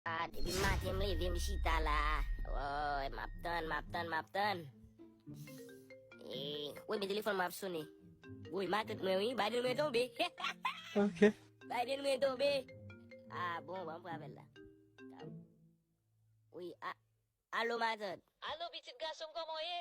Ah depi maten m leve m chita la Woy map tann map tann map tann Eee Woy men telefòn mwen ap sone Woy matant mwen wi Biden mwen tonbe Ok Biden mwen tonbe Ah bon banm pran avèl la Woy ah Alo matant Alo pitit gasonm kòman w ye?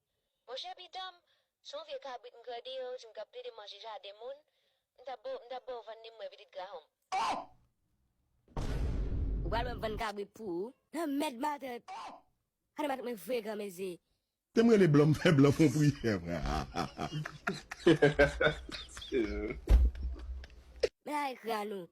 Monchè pitan m, se yon vye kabrit m grade yo di m kap plede manje jaden moun, m tap ba w, m tap ba w vann li m wè pitit grahom. Oh! Ou pral wè m vann kabrit pou ou. Nan mèd matant! Anne matant mwen vre granmezi. Tem rele blan m fè blan fon priyè m hahaha. Men la ekran nou.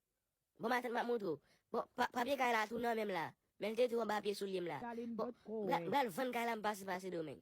Bon matant map moutre w. Bon papye kay la tou nan menm la. Men l te tou anba pye soulye m la. Bon m pral vann kay la m pase pa Sedomeng.